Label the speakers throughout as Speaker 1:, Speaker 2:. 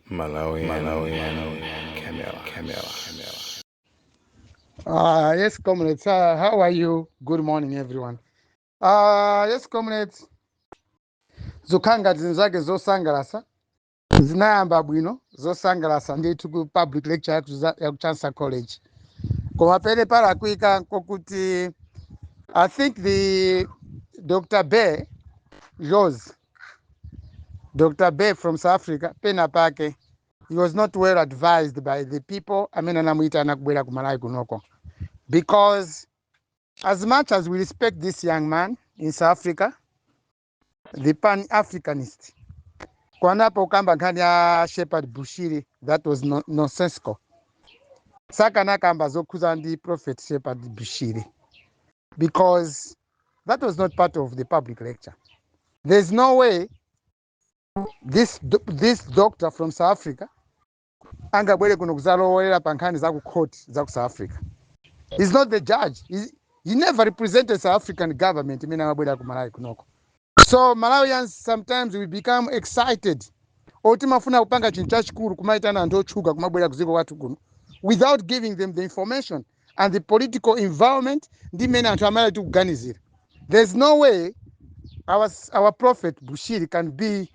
Speaker 1: Malawian, Malawian, Camera, Camera, Camera.
Speaker 2: Uh, yes, comrades. Uh, how are you? Good morning, everyone. Uh, yes, comrades. Zokhala ngati zinazake zosangalasa zinayamba bwino zosangalasa ndithu ku public lecture ya ku Za- ya ku Chancellor College. Koma penapake palakwika kokuti I think the Dr. Bay Dr. Bay from South Africa pena pake he was not well advised by the people amene anamuyitana kubwera ku Malawi kunoko because as much as we respect this young man in South Africa the pan-Africanist koma apo pokamba nkhani ya Shepherd Bushiri that was no, nonsensical sakanakamba zokhuza ndi prophet Shepherd Bushiri because that was not part of the public lecture. There's no way this, this doctor from South Africa angabwere kuno kuzalowera pa nkhani za ku court za ku South Africa. He's not the judge. He's, he never represented South African government mmene amabwera ku Malawi kunoko. So Malawians sometimes we become excited or timafuna kupanga chinthu chachikulu kumaitana anthu otchuka kumabwera kudziko kwathu kuno without giving them the information and the political environment ndi mmene anthu a Malawi tikuganizira there's no way our, our prophet Bushiri can be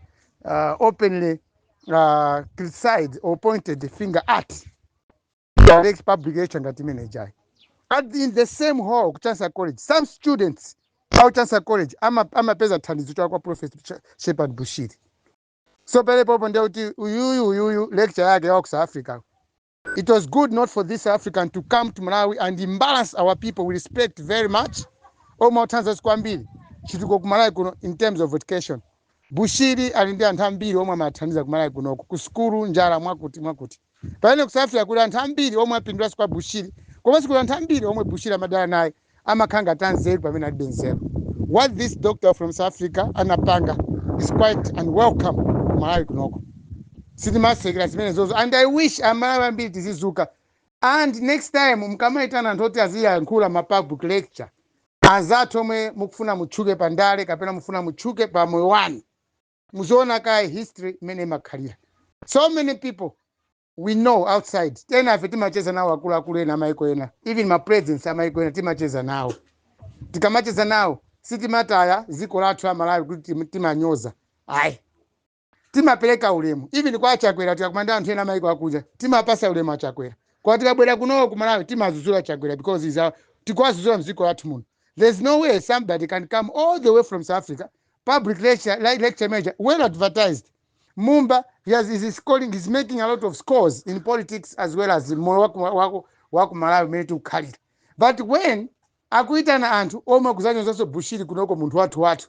Speaker 2: uh, openly uh, criticized or pointed the finger at at the public lecture ngati imene ija in the same hall ku Chancellor College some students a ku Chancellor College ama- amapeza thandizo kwa prophet Ch- Shepherd Bushiri so pamenepo ndiye kuti uyuyu uyuyu lecture yake ya ku South Africa it was good not for this African to come to Malawi and embarrass our people we respect very much omwe akuthandiza kwambiri chitukuko ku Malawi kuno in terms of education Bushiri ali ndi anthu ambiri omwe amawathandiza ku Malawi kunoko, ku sukulu, njala, mwakuti, mwakuti. Pamene ku South Africa kuli anthu ambiri omwe apindulanso kwa Bushiri komanso kuli anthu ambiri omwe Bushiri amadana naye amakhala ngati anzeru pamene alibe nzeru. What this doctor from South Africa anapanga is quite unwelcome ku Malawi kunoko. Sitimasekerera zimenezozo and I wish a Malawi ambiri tizidzuka and next time mukamaitana anthu oti aziyankhula ma public lecture Anzathu omwe mukufuna mutchuke pa ndale kapena mufuna mutchuke pa moyo wanu, muziona kaye history mmene imakhalira. So many people we know outside, enafe timacheza nawo akuluakulu ena amaiko ena, even ma presidents amaiko ena timacheza nawo. Tikamacheza nawo sitimataya dziko lathu la Malawi kuti tim- timanyoza. Ayi. timapereka ulemu even kwa a chakwera tikakumana ndi anthu ena amaiko akunja timawapatsa ulemu a chakwera koma tikabwera kuno ku malawi timawadzudzula a chakwera because is our- tikuwadzudzula mdziko lathu muno there's no way somebody can come all the way from south africa public lecture, li- lecture major well advertised mumba he has, is scoring is making a lot of scores in politics as well as moyo waku, waku, waku malawi umene tikukhalira, but when akuitana anthu omwe kudzanyozanso bushiri kunoko munthu wathu wathu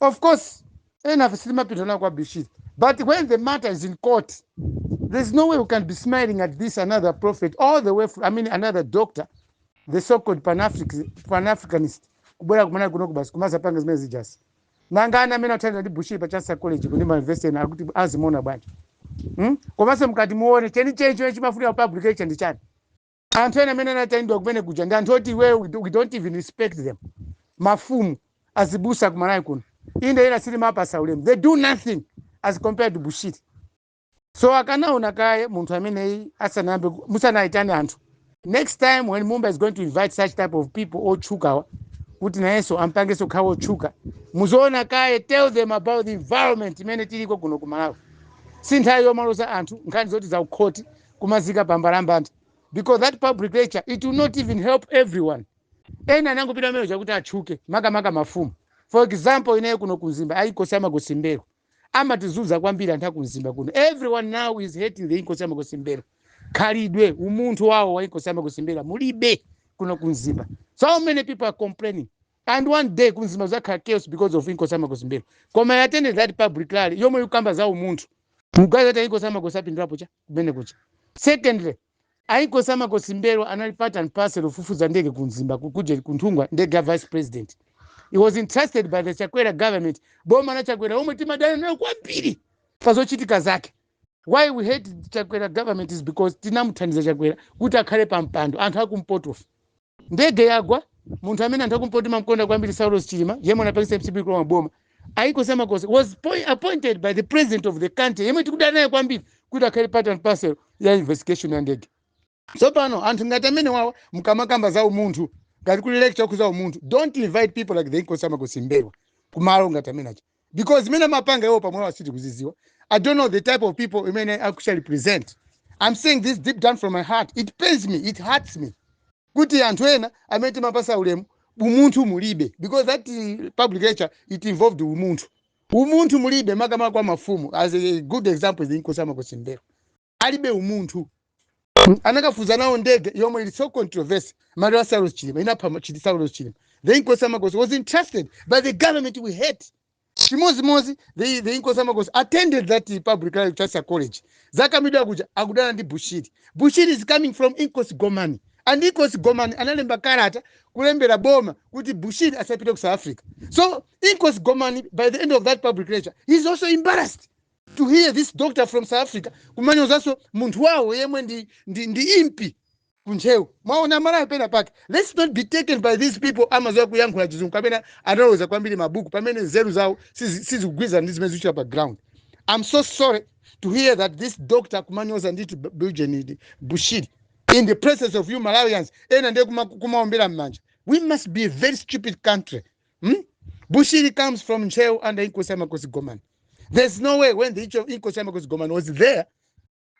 Speaker 2: Of course, enough sitimapindula kwa Bushiri. But when the matter is in court, there's no way we can be smiling at this another prophet all the way from, I mean another doctor, the so-called Pan-African, Pan-Africanist. Kubwera ku Malawi kuno basi kumadzapanga zimene zijazi. Nanga ana amene athandizidwa ndi Bushiri pa Chancellor College ku ma university ena aja kuti azimuona bwanji. Hmm? Komanso mkati muone cheni cheni chimene chimafunika publication ndi chani. anthu ena amene anaitanidwa kumene kuja ndi anthu oti iweyo we do- we don't even respect them mafumu azibusa kumalawi kuno inde ena sitimawapatsa ulemu they do nothing as compared to bushiri so akanaona kaye munthu ameneyi asanayambe ku- musanayitane anthu next time when mumba is going to invite such type of people otchukawo kuti nayenso ampangenso akhale otchuka muziona kaye tell them about the environment imene tiliko kuno ku malawi si nthawi yomaloza anthu nkhani zoti za kukhoti kumaziika pambalambanda because that public lecture it will not even help everyone ena anangopita ndi cholinga chakuti atchuke makamaka mafumu for example ineyo kuno kumzimba a inkosi ya makosi m'mbelwa amatizunza kwambiri anthu akumzimba kuno everyone now is hating the inkosi ya makosi m'mbelwa khalidwe umunthu wawo wa inkosi ya makosi m'mbelwa mulibe kuno kumzimba so many people are complaining and one day kumzimba kudzakhala chaos because of inkosi ya makosi m'mbelwa koma a-attend that public rally yomwe ikukamba za umunthu mukuganiza kuti a inkosi ya makosi apindulapo chani kumene kuja secondly a inkosi ya makosi m'mbelwa anali part and parcel ofufuza ndege kumzimba kuja ku nthungwa ndege ya vice president he was entrusted by the chakwera government boma la chakwera omwe timadana nalo kwambiri pa zochitika zake why we hate chakwera government is because tinamuthandiza chakwera kuti akhale pa mpando anthu akumpotofe ndege yagwa munthu amene anthu akumpoto timamkonda kwambiri saulos chilima yemwe anapangisa mcp kulowa boma a inkosi ya makosi was poi- appointed by the president of the country yemwe tikudana naye kwambiri kuti akhale part and parcel ya investigation ya ndege tsopano anthu ngati amene wawa mkamakamba za umunthu ngati public lecture yokhudza umunthu don't invite people like the inkosi ya makosi m'mbelwa kumalo ngati amene aja because zimene amapanga iwo pamwepo sitikuzidziwa i don't know the type of people imene amachita represent i'm saying this deep down from my heart it pains me it hurts me kuti anthu ena amene timawapatsa ulemu umunthu mulibe because that eh, public lecture it involved umunthu umunthu mulibe makamaka kwa mafumu as a good example is inkosi ya makosi m'mbelwa alibe umunthu Mm, anakafunza nawo ndege yomwe ili so controversy maliro a saulos chilima inapha ma- chili saulos chilima the inkosi ya makosi was entrusted by the government we hate chimozimozi the, the inkosi ya makosi attended that public lecture college za kamidwa kuja akudana ndi bushiri bushiri is coming from inkosi gomani and inkosi gomani analemba kalata kulembera boma kuti bushiri asapite ku south africa so inkosi gomani by the end of that public lecture he is also embarrassed to hear this doctor from south africa kumanyozanso munthu wawo yemwe ndi, ndi, ndi impi kuntcheu mwaona malawi pena pake let's not be taken by these people amadziwa kuyankhula chizungu kapena analoweza kwambiri mabuku pamene nzeru zawo sizi- sizikugwirizana ndi zimene zikuchitika pa ground i'm so sorry to hear that this doctor kumanyoza brigadier general bushiri in the presence of you malawians ena ndiye kuma- kumaombera m'manja we must be a very stupid country Hmm? Bushiri comes from Ntcheu under Inkosi ya Makosi Gomani. There's no way when the Icho- Inkosi ya Makosi Gomani was there,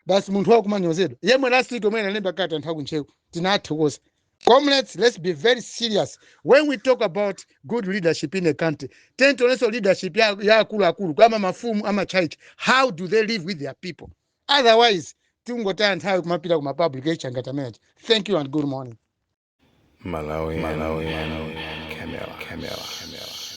Speaker 2: basi munthu wawo kumanyozedwa. Yemwe last week omwe analemba kalata anthu a ku Ntcheu tinathokoza. Comrades, let's be very serious when we talk about good leadership in a country. Tiyeni tionenso leadership ya ya akuluakulu kama mafumu ama church. How do they live with their people? Otherwise, tingotaya nthawi kumapita kuma public lecture ngati amene aja. Thank you and good morning.
Speaker 1: Malawi,
Speaker 2: Malawi, Malawi, Camera,
Speaker 1: Camera,
Speaker 2: Camera.